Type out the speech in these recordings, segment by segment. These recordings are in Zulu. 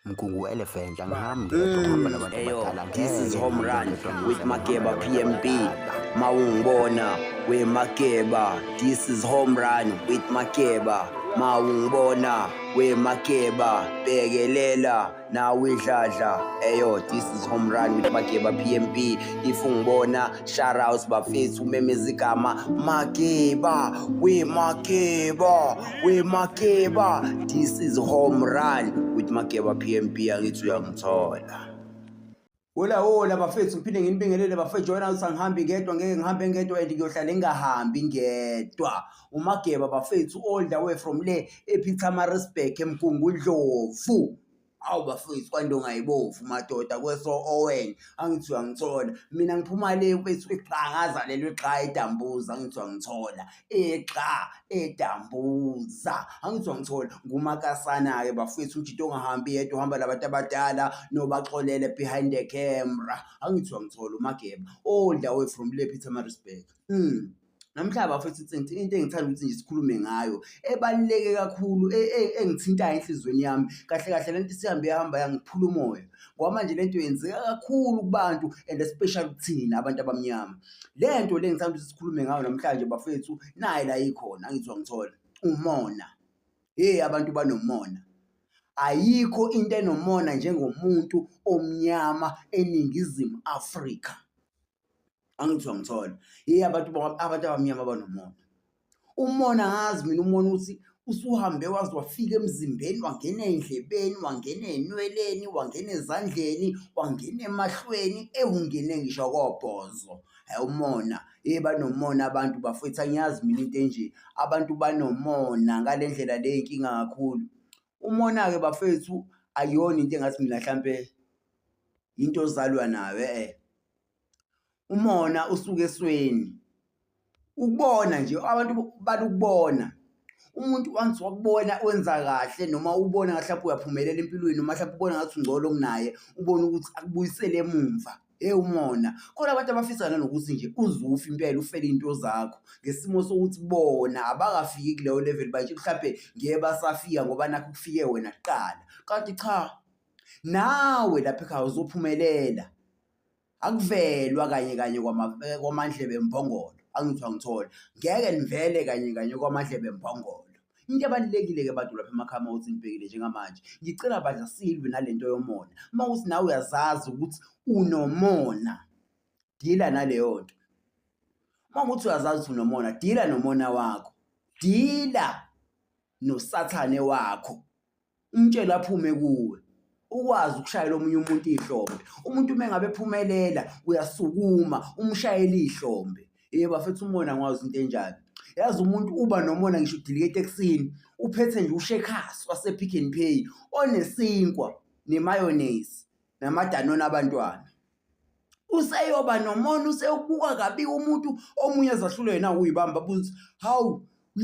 Mgungu Elephant angihamba ngedwa ngihamba nabantu Eyo, abadala this is ngeke home run ngedwa ngidla with nabantu Makeba PMB. abadala. Mawungibona we Makeba. This is home run with Makeba. Mawungibona we Makeba. Bekelela nawe idladla. Eyo, this is home run with Makeba PMB. If ungibona shout out bafethu umemezigama Makeba we Makeba. we makeba this is home run with makeba pmp angithi uyangithola Wola wola bafethu ngiphinde nginibingelele bafethu joyina ukuthi angihambi ngedwa ngeke ngihambe ngedwa and ngiyohlale ngingahambi ngedwa umageba bafethu all the way from le ePietermaritzburg eMgungundlovu awu bafethu kwandonga ibovu madoda kweso owen angithi uyangithola mina ngiphuma le mfethu iqha ngazalelwa iqha edambuza angithi uyangithola iqha edambuza angithi uyangithola ngumakasana-ke bafethu umjito ongahambi yedwa uhamba labantu abadala nobaxolele behind the camera angithi uyangithola umageba all the way from lephi tamarisburg mm. Namhlaba futhi into engithanda ukuthi nje sikhulume ngayo ebaluleke kakhulu e, e, engithintayo enhlizweni yami kahle kahle le nto isihambe yahamba yangiphula umoya ngoba manje le nto yenzeka kakhulu kubantu and especially kuthina abantu abamnyama le nto le ngithanda ukuthi sikhulume ngayo namhlanje bafethu naye la ikhona angizwa ngithola umona hey abantu banomona ayikho into enomona njengomuntu omnyama eningizimu Afrika angithi wangithola yeyi abantu abantu abamnyama banomona umona ngazi mina umona ukuthi usuhambe waze wafika emzimbeni wangena endlebeni wangena enweleni wangena ezandleni wangena emahlweni ewungene ngisho kobhozo hayi umona hey banomona abantu bafethu angiyazi mina into enje abantu banomona ngale ndlela le inkinga kakhulu umona-ke bafethu ayiyona into engathi mina hlampe into ozalwa nayo eh umona usuke esweni ukubona nje abantu balukubona umuntu once wakubona wenza kahle noma ubona ngathi lapho uyaphumelela empilweni noma mhlawumbe ubona ngathi ungcono kunaye ubona ukuthi akubuyisele emumva hey umona kodwa abantu abafisana nokuthi nje uzufa impela ufele into zakho ngesimo sokuthi bona abakafiki kuleyo level banje mhlawumbe ngeke basafika ngoba nakho kufike wena kuqala kanti cha nawe lapha ekhaya uzophumelela akuvelwa kanye kanye kwamandlebe mbongolo angithiwa ngithole ngeke nivele kanye kanye kwamandlebe mbongolo into ebalulekile ke bantu lapha emakhaya uma uthi nibhekile njengamanje ngicela badla silwe nale nto yomona uma uthi nawe uyazazi ukuthi unomona dila naleyo nto uma ukuthi uyazazi ukuthi unomona dila nomona wakho dila nosathane wakho umtshele aphume kuwe ukwazi ukushayela omunye umuntu ihlombe umuntu uma engabe ephumelela uyasukuma umshayele ihlombe yebo afethu umona ngwazi into enjalo yazi umuntu uba nomona ngisho udilike etekisini uphethe nje ushekhas wasepick and pay onesinkwa nemayonnaise namadanona abantwana useyoba nomona usewubuka kabi umuntu omunye ezahlulwe yena uyibamba bunzi hawu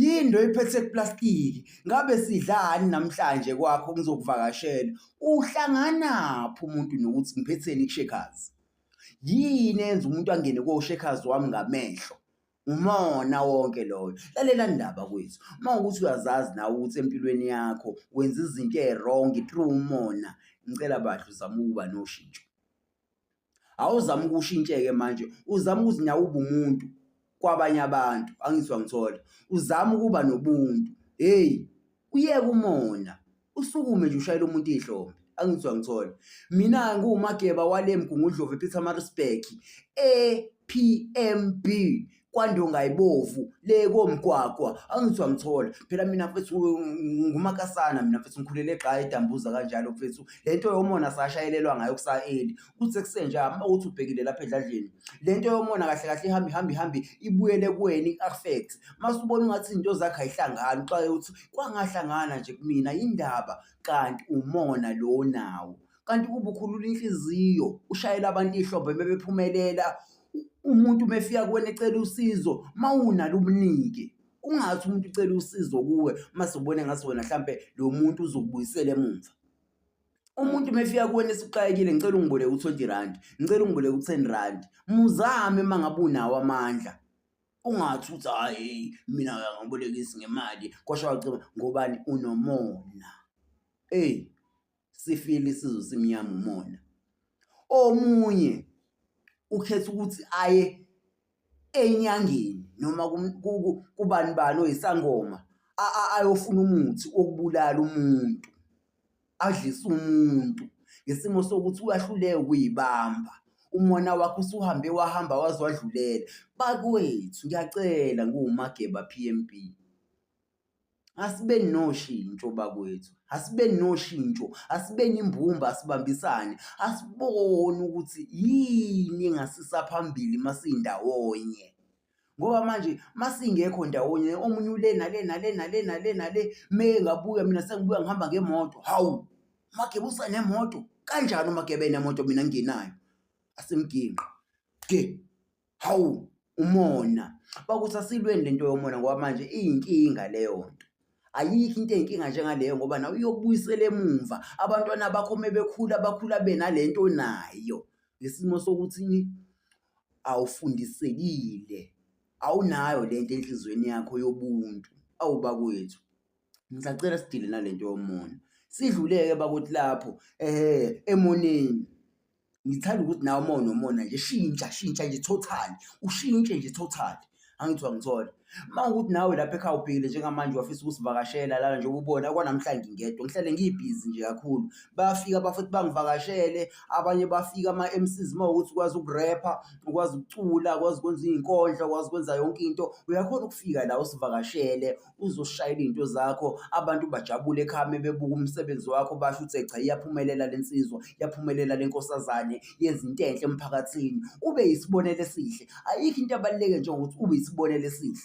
yinto ephethe kuplastiki ngabe sidlani namhlanje kwakho ngizokuvakashela uhlanganaphi umuntu nokuthi ngiphetheni kushekazi yini enza umuntu angene koshekazi wami ngamehlo Umona wonke loyo. Lalela ndaba kwethu. Uma ukuthi uyazazi nawe ukuthi empilweni yakho wenza izinto eziwrong through umona, ngicela badla uzama ukuba noshintsho. Awuzame ukushintsheke manje, uzama ukuthi nawe ube umuntu kwabanye abantu, angithi wangithola. Uzame ukuba nobuntu. Hheyi! uyeke umona usukume nje ushayele umuntu ihlombe angithi uyangithola mina ngiwumageba wale mgungundlovu epietermaritzburg epmb kwandongayibovu le komgwagwa angithi uyangithola phela mina mfethu ngumakasana mina mfethu ngikhulele egxaya edambuza kanjalo mfethu le nto yomona sashayelelwa ngayo kusa-eli kuze kusenje uma uthi ubhekile lapha edladleni le nto yomona kahle kahle ihambi hambi hambi ibuyele kuwena i-affect mase ubona ungathi izinto zakhe ayihlangani uxaye ukuthi kwangahlangana nje kumina yindaba kanti umona lo nawo kanti kube ukhulula inhliziyo ushayela abantu ihlombe bebephumelela umuntu mefika kuwena ecela usizo mawunalo umnike ungathi umuntu ucela usizo kuwe mase ubone ngathi wena mhlampe lo muntu uzokubuyisela emumva umuntu mefika kuwena esixakekile ngicela ungiboleke u-20 rand ngicela ungiboleke u-10 rand muzame uma ngabe unawo amandla ungathi uthi hhayi mina ngibolekisi ngemali kwasho wacima ngobani unomona eyi sifile isizwe simnyama umona omunye ukhetha ukuthi aye enyangeni noma kubani bani oyisangoma ayofuna umuthi wokubulala umuntu adlise umuntu ngesimo sokuthi uyahluleka ukuyibamba umona wakho usuhambe wahamba waze wadlulela bakwethu ngiyacela nguwumageba PMB. Asibeni noshintsho bakwethu, asibeni noshintsho, asibeni imbumba, asibambisane, asibone ukuthi yini engasisa phambili uma sindawonye. Ngoba manje uma singekho ndawonye omunye ule nale nale nale nale nale, uma engabuya mina sengibuya ngihamba ngemoto, hawu uMageba usenemoto, kanjani uMageba enemoto mina ngingenayo? Asimginqe, ge. Hawu umona. Bakuthi asilweni lento yomona ngoba manje iyinkinga leyo nto. Ayikho into eyinkinga njengaleyo ngoba nawe uyokubuyisela emumva. Abantwana bakho mebekhula bakhula benalento onayo. Ngesimo sokuthi awufundisekile. Awunayo lento enhlizweni yakho yobuntu. Awu bakwethu. Ngisacela sidile nalento yomona. Sidluleke bakuthi lapho emoneni. Ngithanda ukuthi nawe uma unomona nje shintsha shintsha nje totally, ushintshe nje totally. Angithiwa ngithole. Uma ukuthi nawe lapha ekhaya ubhekile njengamanje wafisa ukusivakashela lana njengoba ubona kwanamhlanje ngedwa ngihlale ngibhizi nje kakhulu. Bayafika bafethu bangivakashele, abanye bafika ama-M_Cs uma ukuthi ukwazi ukurepha, ukwazi ukucula, ukwazi ukwenza iy'nkondlo, ukwazi ukwenza yonke into, uyakhona ukufika la usivakashele. uzoshayela izinto zakho abantu bajabule ekhame bebuka umsebenzi wakho basho ukuthi cha iyaphumelela le nsizwa iyaphumelela le nkosazane yenza into enhle emphakathini ube yisibonelo esihle ayikho into abaluleke njengokuthi ube yisibonelo esihle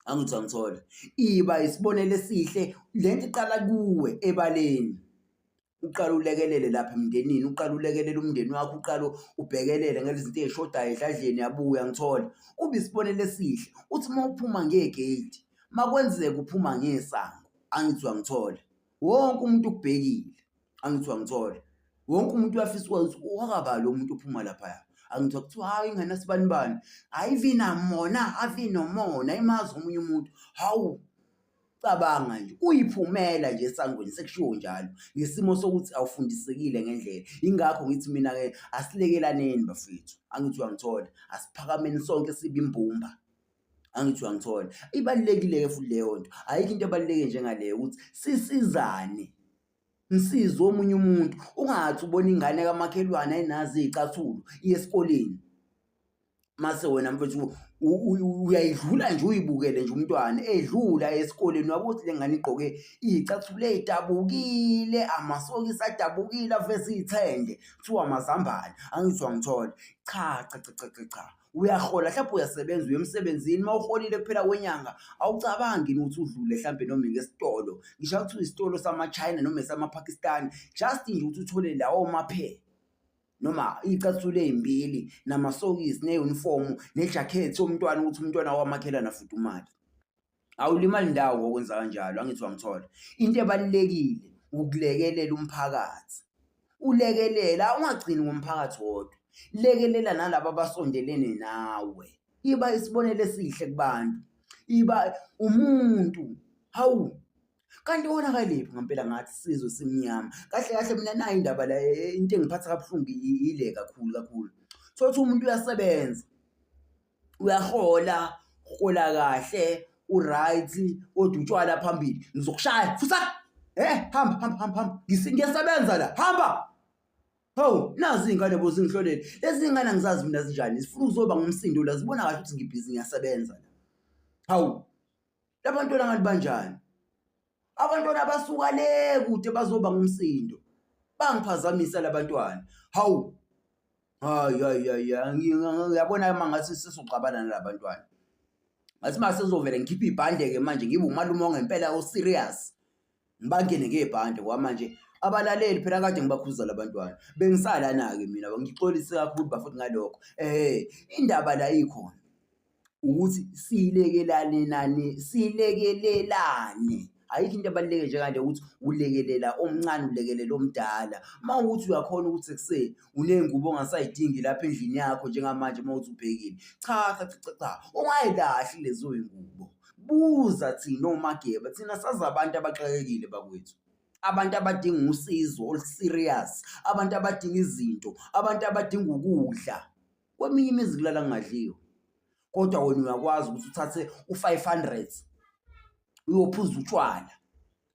angithi angithole iba yisibonelo esihle lento iqala kuwe ebaleni uqala ulekelele lapha emndenini uqala ulekelele umndeni wakho uqala ubhekelele ngalezi zinto ezishodayo edladleni yabuya ngithola kube isibonelo esihle uthi uma uphuma ngegate makwenzeka uphuma ngesango angithiwa ngithole wonke umuntu ukubhekile angithiwa ngithole wonke umuntu uyafisa ukwazi ukuthi wakaba lo muntu uphuma laphaya angithiwa kuthiwa hayi ingane sibani bani hayi vina mona avino mona imazi omunye umuntu hawu Cabanga nje, uyiphumela nje esangweni sekushiwo njalo ngesimo sokuthi awufundisekile ngendlela. Yingakho ngithi mina-ke asilekelaneni bafethu, angithi uyangithola, asiphakameni sonke sibe imbumba angithi uyangithola. Ibalulekile-ke futhi leyo nto, ayikho into ebaluleke njengaleyo ukuthi sisizane msize omunye umuntu ungathi ubona ingane kamakhelwane ayinazi iy'cathulo iye esikoleni mase wena mfethu uyayidlula nje uyibukele nje umntwana edlula esikoleni wabuthi le ngane igqoke iyicathulo eyidabukile amasokisi adabukile avese iyithende kuthiwa amazambane angizwa ngithole cha cha cha cha cha cha uyahola mhlawumbe uyasebenza uye emsebenzini uma uholile kuphela kwenyanga awucabangi ukuthi udlule mhlawumbe noma ngesitolo ngisho kuthiwa isitolo sama-china noma esamapakistani just nje ukuthi uthole lawo maphela noma iy'cathulo ey'mbili namasokisi neyunifomu nejakhethi yomntwana ukuthi umntwana wamakhelana afudumale awulimali ndawo ngokwenza kanjalo angithi wangithola into ebalulekile ukulekelela umphakathi ulekelela ungagcini ngomphakathi wodwa lekelela nalabo abasondelene nawe iba isibonelo esihle kubantu iba umuntu hawu Kanti wonakaliphi ngampela ngathi sizwe simnyama. Kahle kahle mina nayo indaba la eh, into engiphatha kabuhlungu ile kakhulu kakhulu. Thothi umuntu uyasebenza. Uyahola, hola kahle, uright, kodwa utshwala phambili. Ngizokushaya. Fusa. Eh, hamba hamba hamba hamba. Ngiyasebenza la. Hamba. Hawu, nazi ingane bo zingihlolele. Lezi ingane angizazi mina zinjani. Zifuna ukuzoba ngumsindo la. Zibona kahle ukuthi ngibhizi ngiyasebenza la. Hawu. labantwana ngathi banjani abantwana abasuka le kude bazoba ngumsindo bangiphazamisa labantwana hawu hayi hayi hayi ngiyabona uma ngathi sisoxabana nalabantwana ngathi uma sezovele ngikhiphe ibhande-ke manje ngibe umalume ongempela o-serious ngibangene ngebhande kwamanje abalaleli phela kade ngibakhuza labantwana bengisalana-ke mina ngixolise kakhulu bafuthi ngalokho um indaba la ikhona ukuthi silekelanenani silekelelane ayikho into ebaluleke njenganje ukuthi ulekelela omncane ulekelela omdala uma ukuthi uyakhona ukuthi sekuseni uney'ngubo ongasayidingi lapha endlini yakho njengamanje uma ukuthi ubhekile cha cha cha cha ungayilahli lezo y'ngubo buza thina omageba thina sazi abantu abaxakekile bakwethu abantu abadinga usizo oluserious abantu abadinga izinto abantu abadinga ukudla kweminye imizi kulala kungadliwa kodwa wena uyakwazi ukuthi uthathe u-500 uyophuza utshwala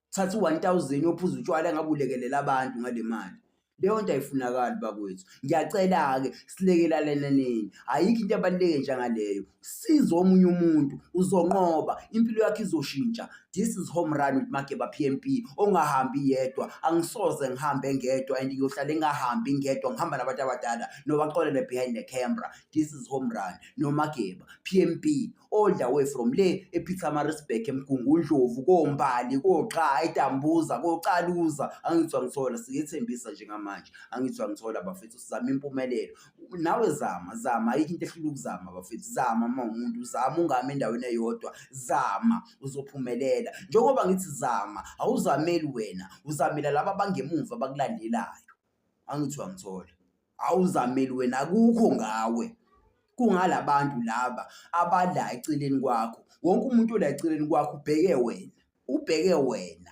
thatha u-1000 uyophuza utshwala ngabe ulekelela abantu ngale mali leyo nto ayifunakali bakwethu ngiyacela-ke silekelalene nini ayikho into ebaluleke njengaleyo Siza omunye umuntu uzonqoba impilo yakhe izoshintsha this is home run with Mageba PMP ongahambi yedwa angisoze ngihambe ngedwa and ngiyohlale ngahambi ngedwa ngihamba nabantu abadala nobaxolele behind the camera this is home run no Mageba PMP all the way from le ePietermaritzburg eMgungundlovu koMbali koXha eDambuza koCaluza angithwa ngithola siyethembisa njengamanje angithwa ngithola bafethu sizama impumelelo nawe zama zama ayikho into ehlula ukuzama bafethu zama uma umuntu zama ungami endaweni eyodwa zama uzophumelela njengoba ngithi zama awuzameli wena uzamela laba abangemumva bakulandelayo angithi wangithola awuzameli wena akukho ngawe kungalabantu laba abadla eceleni kwakho wonke umuntu ola eceleni kwakho ubheke wena ubheke wena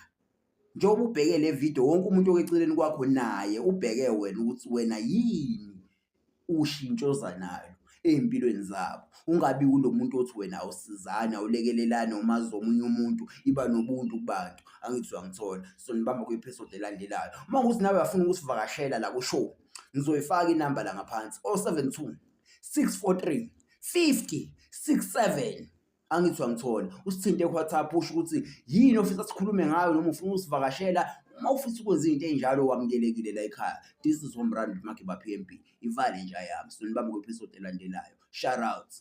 Njengoba ubheke le video wonke umuntu okeceleni kwakho naye ubheke wena ukuthi wena yini ushintsho oza nalo ey'mpilweni zabo ungabi kulo muntu othi wena awusizani awulekelelani umazi omunye umuntu iba nobuntu kubantu angithi uyangithola so nibamba kwi-episode elandelayo uma ukuthi nawe uyafuna ukusivakashela la kushow ngizoyifaka inamba la ngaphansi 072 643 50 67 angithi uyangithola usithinte ku-whatsapp usho ukuthi yini ofisa sikhulume ngayo noma ufuna usivakashela uma ufisa ukwenza into enjalo wamukelekile la ekhaya this is home run with makhe ba p m b ivale nja yami soni bami kwi-episode elandelayo shout out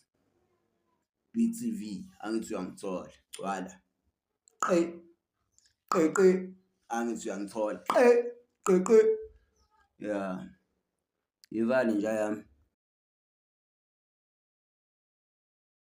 b t v angithi uyangithola cwala qe qe qe angithi uyangithola qe qe qe ya ivale nja yami